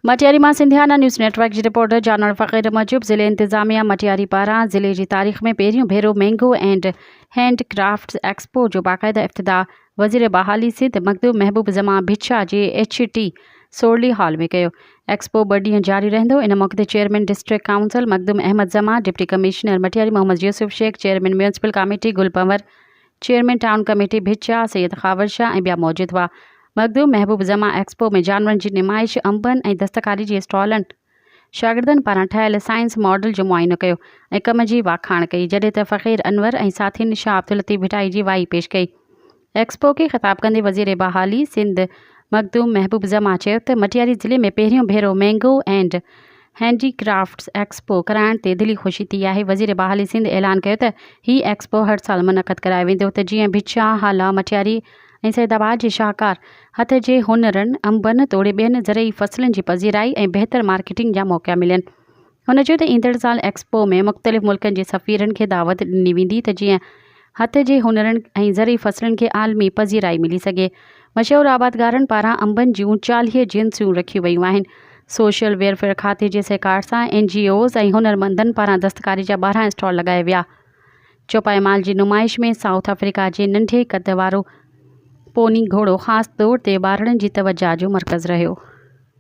مٽياري مان Sindhiana news network جي reporter جانوڙ فقير موجب ضلعي انتظاميا مٽياري پاران ضلعي جي تاريخ ۾ پهريون ڀيرو mango and hand crafts expo جو باقاعده افتتاح وزير بحالي سنڌ مخدوم محبوب زمان ڀٽشاهه جي ايڇ ٽي سورلي هال ۾ ڪيو ايڪسپو ٻه ڏينهن جاري رهندو ان موقعي تي chairman district council Makhdoom Ahmed Zaman deputy commissioner Matiari Muhammad Yousuf Shaikh chairman municipal committee Gul Panhwar chairman town committee ڀچيا، سيد خاور شاهه ۽ ٻيا موجود هئا. مخدوم محبوب زمان ايڪسپو ۾ جانورن جي نمائش، انبن ۽ دستڪاري جي اسٽالن، شاگردن پاران ٺهيل سائنس ماڊل جو معائنو ڪيو ۽ ڪم جي واکاڻ ڪئي، جڏهن ته فقير انور ۽ ساٿين شاهه عبداللطيف ڀٽائي جي وائي پيش ڪئي. ايڪسپو کي خطاب ڪندي وزير بحالي سنڌ مخدوم محبوب زمان چيو ته مٽياري ضلعي ۾ پهريون ڀيرو mango and handicrafts expo ڪرائڻ تي دلي خوشي ٿي آهي، وزير بحالي سنڌ اعلان ڪيو ته هي ايڪسپو هر سال منعقد ڪرايو ويندو ته جيئن ڀچا، هالا، مٽياري ۽ سيد آباد جي شاهڪار هٿ جي هنرن، انبن توڙي ٻين زرعي فصلن جي پذيرائي ۽ بهتر مارڪيٽنگ جا موقعا ملن. هن چيو ته ايندڙ سال ايڪسپو ۾ مختلف ملڪن جي سفيرن کي دعوت ڏني ويندي ته جيئن هٿ جي هنرن ۽ زرعي فصلن کي عالمي پذيرائي ملي سگهي. مشهور آبادگارن پاران انبن جون چاليهه جنسيون رکيون ويون آهن. سوشل ويئرفيئر کاتي جي سهڪار سان اين جي اوز ۽ هنرمندن پاران دستڪاري جا ٻارهن اسٽال لڳايا ويا. چوپائي مال جي نمائش ۾ سائوٿ آفريڪا جي ننڍي قد وارو پوني گهوڙو خاص طور تي ٻارڙن جي توجهه جو مرڪز رهيو.